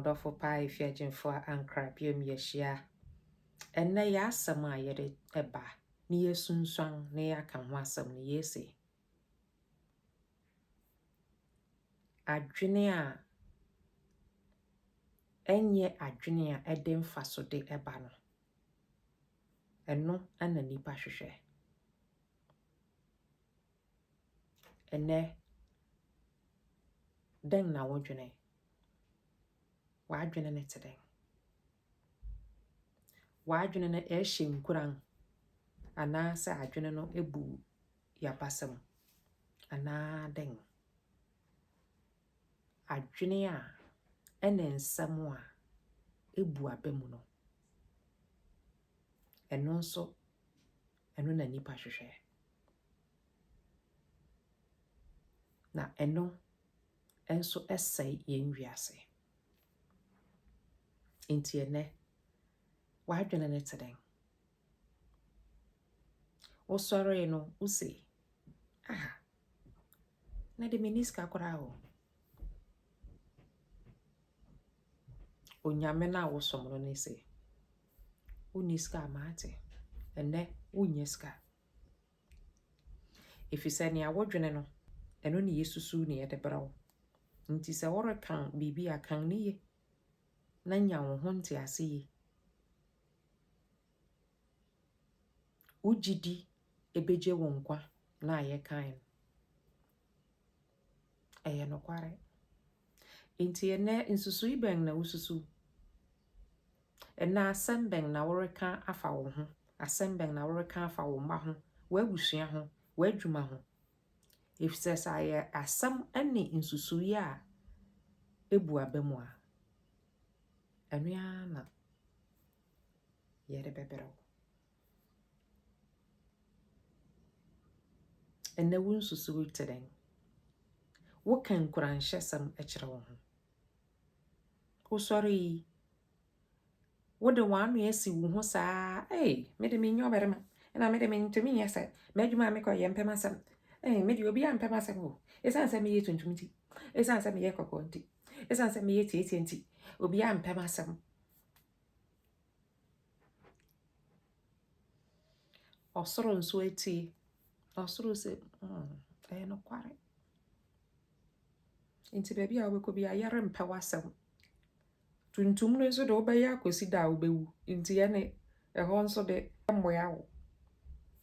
M'adɔfo paa Efiagyinfo a ankra biom yɛahyia. Ɛnnɛ yɛ asɛm a yɛde ɛba ne yɛasunsuan ne yɛaka ho asɛm no yɛse, adwene a ɛnyɛ adwene a ɛde mfasode ɛba no, ɛno na nnipa hwehwɛ. Ɛnnɛ, dɛn na wodwene? W'adwene no te dɛn? W'adwene no ɛrehyɛ nkuran anaasɛ adwene no abu yabasam anaa dɛn? Adwene a ɛne nsɛm a abu aba mu no, ɛno nso Ɛno na nnipa hwehwɛ. Na ɛno nso sɛe yɛn wiase. Nti ɛnɛ, w'adwene ne te dɛn? Wosɔree no, wose, aha, na de menni sika koraa o. Onyame no a wosom no ne se, Wonni sika a, mate. Ɛnnɛ, wonnya sika. Efisɛ nea wodwene no, ɛno na yesusuw na yɛde brɛ wo. Enti sɛ worekan biribi a, kan no ye na nya wo ho ntease ye. Wo gyidi ebegye wo nkwa na ayɛ kan no. Ɛyɛ nokware. Enti ɛnnɛ, nsusui bɛn na wususuw? Ɛnnɛ, asɛm bɛn na woreka afa wo ho? Asɛm bɛn na woreka afa wo mma ho, w'abusua ho, w'adwuma ho? Efisɛ sɛ ayɛ asɛm ne nsusui a ebu aba mu a, ɛno ara na yɛde bɛbrɛ wo. Ɛnnɛ wo nsusuwii te dɛn? Woka nkuranhyɛsɛm kyerɛ wo ho. Wosɔre yi, wode w'ano asi wo ho saa, ei, me de menyɛ ɔbarima, ɛna me de mentumi nyɛ sɛ, m'adwuma a mekɔ yɛ mpɛ m'asɛm, ei, me de obiara mpɛ m'asɛm o, ɛsiane sɛ meyɛ tuntum nti, ɛsiane sɛ meyɛ kɔkɔɔ nti, ɛsiane sɛ meyɛ tietie nti, obiara mpɛ m'asɛm. Ɔsoro nso atie. Ɔsoro sɛ, mm, ɛyɛ nokware. Nti baabi a wobɛkɔ biara, yɛrempɛ w'asɛm. Tuntum no nso de wobɛyɛ akɔsi da a wobɛwu. Nti ɛne ɛhɔ nso de mmoa wo.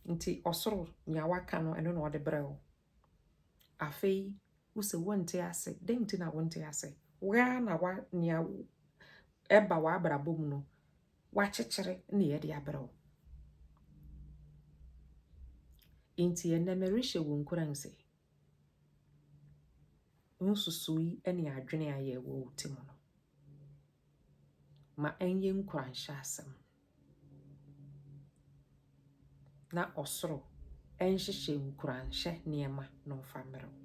Nti ɔsoro nea waka no, ɛno na ɔde brɛ wo. Afei wo se wonte ase, dɛn nti na wonte ase? Wo ara na wa nea ɛba w'abrabɔ mu no wakyekyere na yɛde abrɛ wo. Nti ɛnɛ merehyɛ wo nkuran sɛ nsusuyi ne adwene a yɛwɔ wo ti mu no ma ɛnyɛ nkuranhyɛ asɛm. na ɔsoro nhyehyɛ nkuranhyɛ nneɛma na ɔmfa mmerɛ wo.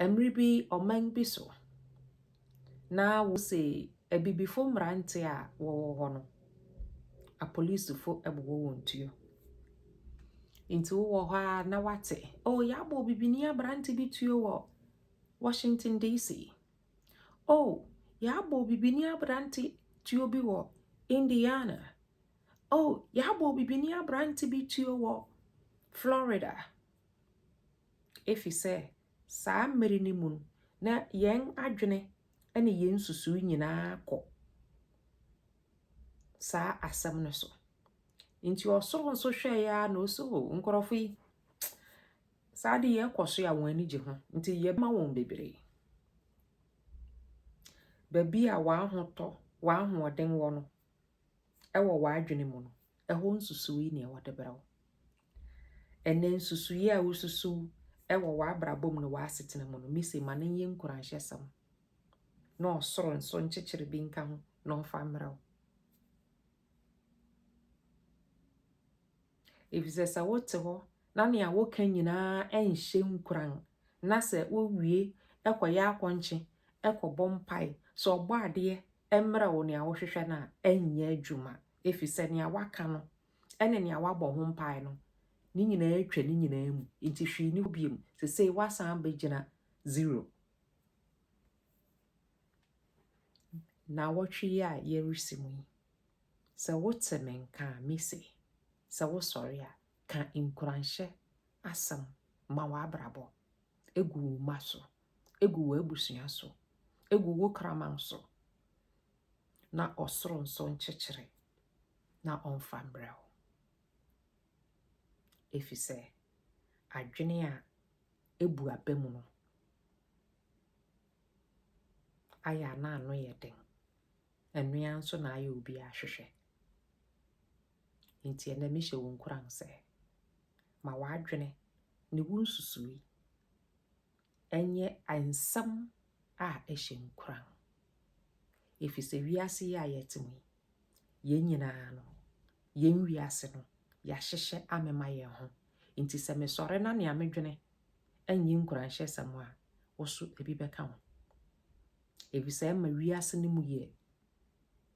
Mmere bi ɔman bi so na wose abibifo mmerante a wɔwɔ hɔ no, apolisifo bobɔ wɔn tuo. Nti wowɔ hɔ a na wate, o oh, yɛabɔ bibini aberante bi tuo wɔ Washington DC. O, yɛabɔ obibini aberante tuo bi wɔ Indiana. O, yɛabɔ obibini aberante bi tuo wɔ Florida. Efi sɛ saa mmere no mu no, na yɛn adwene ne yɛn nsusuw nyinaa kɔ saa asɛm no so. Nti ɔsoro nso hwɛeɛ a na ɔsɛ o nkurɔfo yi Saa adeyɛ kɔ so a wɔn ani gye ho, nti yɛma wɔn bebree. Baabi a w'ahotɔ, w'ahoɔden wɔ no, ɛwɔ w'adwene mu no, ɛhɔ nsusuwii na ɛwɔ de brɛ wo. Ɛnɛ nsusuwii a wosusuw ɛwɔ w'abrabɔ mu no w'asetena mu no mese ma no nyɛ nkuranhyɛsɛm na ɔsoro nso nkyekyere bi nka ho na ɔmfa mmerɛ wo Efisɛ sɛ wote hɔ na nea woka nyinaa nhyɛ nkuran, na sɛ wowie kɔyɛ akɔnkye kɔbɔ mpae sɛ Ɔbɔadeɛ mmrɛ wo nea wohwehwɛ no a, ɛrenyɛ adwuma, efisɛ nea woaka no ne nea woabɔ ho mpae no, ne nyinaa atwa ne nyinaa mu, enti hwee nni hɔ biom. Sesei woasan abɛgyina zero. Nnawɔtwe yi a yɛresi mu yi. Sɛ wote me nka a mise, sɛ wosɔre a, ka nkuranhyɛ asɛm ma w'abrabɔ, egu wo mma so, egu w'abusua so, egu wo kraman so, na ɔsoro nso nkyekyere na ɔmfa mbrɛ wo. Efisɛ adwene a ebu aba mu no ayɛ a na ano yɛ den Ɛno ara nso na ayɛ obi ahwehwɛ. Enti ɛnɛ mehyɛ wo nkuran sɛ, ma w'adwene ne wo nsusui ɛnyɛ nsɛm a ɛhyɛ nkuran. Ɛfiri sɛ wiase yi a yɛte mu yi, yɛn nyinaa no, yɛn wiase no, yɛahyehyɛ amema yɛn ho. Nti sɛ mesɔre na nea medwene ɛnyɛ nkuranhyɛsɛm a, wo so ebi bɛka ho. Efisɛ ɛma wiase no mu yɛ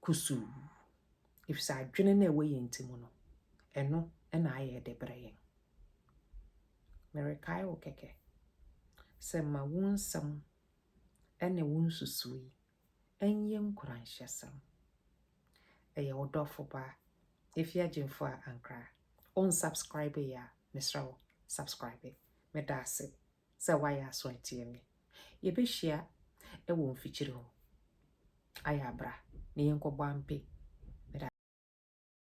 kusuu. Efisɛ adwene no a ɛwɔ yɛn ti mu no, ɛno na ayɛ de brɛ yɛn. Merekae wo kɛkɛ sɛ ma wo nsɛm ne wo nsusui ɛnyɛ nkuranhyɛsɛm. Ɛyɛ wo dɔfo ba efi agyinfo a ankra. Onsubscribe yɛ a, mesrɛ wo, subscribe. Meda ase. sɛ woayɛ aso atie me. Yɛbɛhyia wɔ mfikyiri hɔ. Ayɛ a bra na yɛnkɔbɔ ampe.